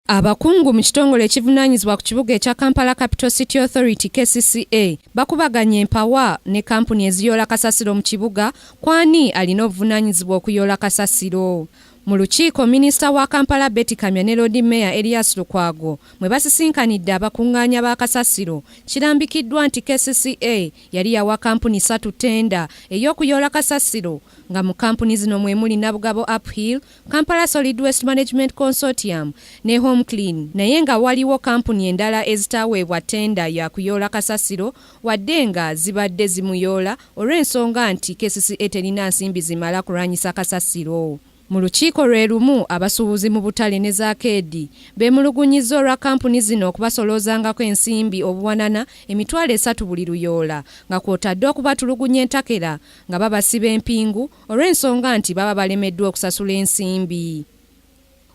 Abakungu mu kitongole ekivunaanyizibwa ku kibuga ekya Kampala Capital City Authority KCCA bakubaganye empawa ne kampuni eziyoola kasasiro mu kibuga kwani alina obuvunaanyizibwa okuyoola kasasiro. Mu lukiiko minisita wa Kampala Betty Kamya ne Loodi Meeya Erias Lukwago mwe basisinkanidde abakungaanya ba kasasiro kirambikiddwa nti KCCA yali yawa kampuni satu tenda ey'okuyoola kasasiro nga mu kampuni zino mwe muli Nabugabo Uphill, Kampala Solid Waste Management Consortium ne Home Clean naye nga waliwo kampuni endala ezitaaweebwa ttenda ya kuyoola kasasiro wadde nga zibadde zimuyoola olw'ensonga nti kcca terina nsimbi zimala kulwanyisa kasasiro. Mu lukiiko lwe lumu abasuubuzi mu butale ne zaakeedi beemulugunyizza olwa kampuni zino okubasoloozangako ensimbi obuwanana emitwalo esatu buli luyoola nga kwotadde okubatulugunya entakera nga babasiba empingu olw'ensonga nti baba balemeddwa okusasula ensimbi.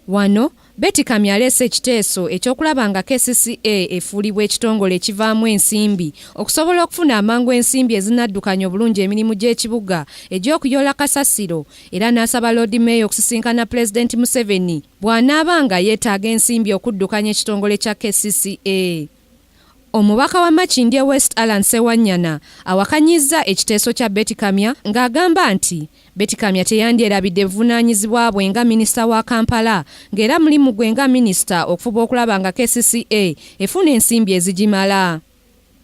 Wano, Betty Kamya aleese ekiteeso eky'okulaba nga kcca efuulibwa ekitongole ekivaamu ensimbi okusobola okufuna amangu ensimbi ezinaddukanya obulungi emirimu gy'ekibuga egy'okuyoola kasasiro era n'asaba Loodi Meeya okusisinkana Pulezidenti Museveni bw'anaaba nga yeetaaga ensimbi okuddukanya ekitongole kya kcca. Omubaka wa Makindye West Allan Ssewanyana awakanyizza ekiteeso kya Beti Kamya ng'agamba nti Beti Kamya teyandyerabidde buvunaanyizibwa bwe nga minisita wa Kampala ng'era mulimu gwe nga minisita okufuba okulaba nga kcca efuna ensimbi ezigimala.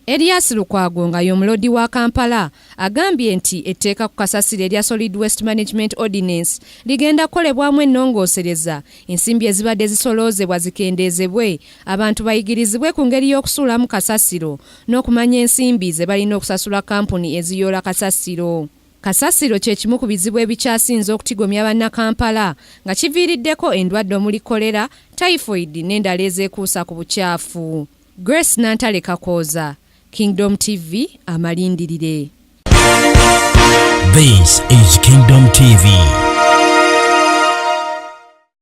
Erias Lukwago nga y'omulodi wa Kampala agambye nti etteeka ku kasasiro erya Solid Waste Management Ordinance ligenda kukolebwamu ennongoosereza ensimbi ezibadde zisoloozebwa zikendeezebwe Abantu bayigirizibwe ku ngeri y'okusuulamu kasasiro n'okumanya ensimbi ze balina okusasula kkampuni eziyoola kasasiro. Kasasiro kye kimu ku bizibu ebikyasinze okutigomya Bannakampala nga kiviiriddeko endwadde omuli kkolera, tayifoyidi n'endala ezeekuusa ku bucaafu. Grace Nantale Kakooza, Kingdom TV, Amalindirire. This is Kingdom TV.